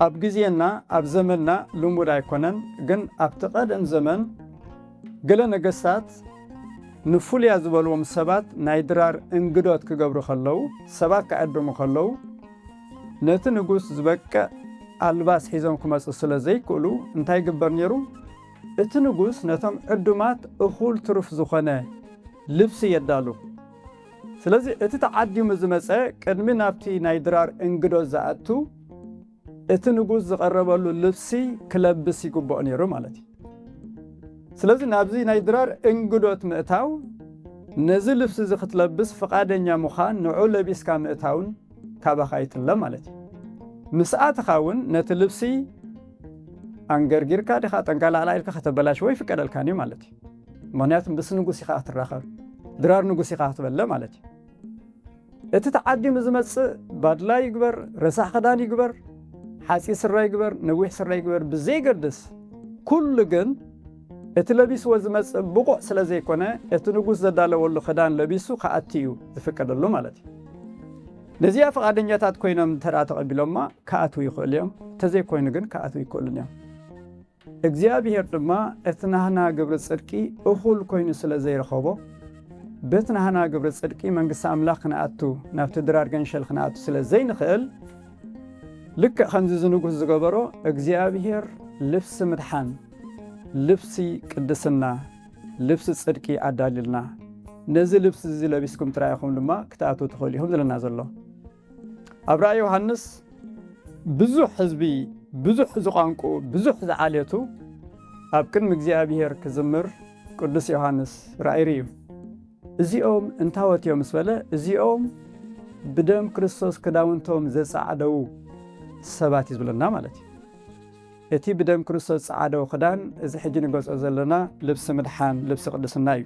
ኣብ ግዜና ኣብ ዘመንና ልሙድ ኣይኮነን ግን ኣብቲ ቀደም ዘመን ገለ ነገስታት ንፍሉያ ዝበልዎም ሰባት ናይ ድራር እንግዶት ክገብሩ ከለዉ ሰባት ክዕድሙ ከለዉ ነቲ ንጉስ ዝበቅዕ ኣልባስ ሒዞም ክመፁ ስለ ዘይክእሉ እንታይ ይግበር ነይሩ እቲ ንጉስ ነቶም ዕዱማት እኹል ትሩፍ ዝኾነ ልብሲ የዳሉ ስለዚ እቲ ተዓዲሙ ዝመጸ ቅድሚ ናብቲ ናይ ድራር እንግዶት ዝኣቱ እቲ ንጉስ ዝቐረበሉ ልብሲ ክለብስ ይግብኦ ነይሩ ማለት እዩ። ስለዚ ናብዚ ናይ ድራር እንግዶት ምእታው ነዚ ልብሲ እዚ ክትለብስ ፍቓደኛ ምዃን ንዑ ለቢስካ ምእታውን ካባኻ ይጥለ ማለት እዩ። ምስ ኣተኻ እውን ነቲ ልብሲ ኣንገርጊርካ ዲኻ ጠንቀላዕላዕ ኢልካ ከተበላሽዎ ኣይፍቀደልካን እዩ ማለት እዩ። ምክንያቱ ምስ ንጉስ ኢኻ ክትራኸብ ድራር ንጉስ ኢኻ ክትበለ ማለት እዩ እቲ ተዓዲሙ ዝመጽእ ባድላ ይግበር ረሳሕ ክዳን ይግበር ሓፂ ስራ ይግበር ነዊሕ ስራ ይግበር ብዘይገድስ ኩሉ ግን እቲ ለቢስዎ ዝመጽእ ብቑዕ ስለ ዘይኮነ እቲ ንጉስ ዘዳለወሉ ክዳን ለቢሱ ክኣቲ እዩ ዝፍቀደሉ ማለት እዩ ነዚኣ ፍቓደኛታት ኮይኖም እንተ ተቐቢሎማ ክኣትዉ ይኽእሉ እዮም እንተዘይኮይኑ ግን ክኣትዉ ይክእሉን እዮም እግዚኣብሄር ድማ እቲ ናህና ግብሪ ጽድቂ እኹል ኮይኑ ስለ ዘይረኸቦ፣ በቲ ናህና ግብሪ ጽድቂ መንግስቲ ኣምላኽ ክንኣቱ ናብቲ ድራር ገንሸል ክንኣቱ ስለ ዘይንኽእል፣ ልክዕ ከምዚ እዚ ንጉስ ዝገበሮ እግዚኣብሄር ልብሲ ምድሓን፣ ልብሲ ቅድስና፣ ልብሲ ጽድቂ ኣዳልዩልና፣ ነዚ ልብሲ እዚ ለቢስኩም ጥራይ ኢኹም ድማ ክትኣትዉ ትኽእሉ ኢኹም ዝብለና ዘሎ። ኣብ ራእይ ዮሃንስ ብዙሕ ህዝቢ ብዙሕ ዝቋንቁ ብዙሕ ዝዓሌቱ ኣብ ቅድሚ እግዚኣብሔር ክዝምር ቅዱስ ዮሃንስ ራእይ ርእዩ እዚኦም እንታወት እዮም ምስ በለ እዚኦም ብደም ክርስቶስ ክዳውንቶም ዘጻዕደው ሰባት እዩ ዝብለና ማለት እዩ እቲ ብደም ክርስቶስ ጸዓደው ክዳን እዚ ሕጂ ንገጾ ዘለና ልብሲ ምድሓን ልብሲ ቅድስና እዩ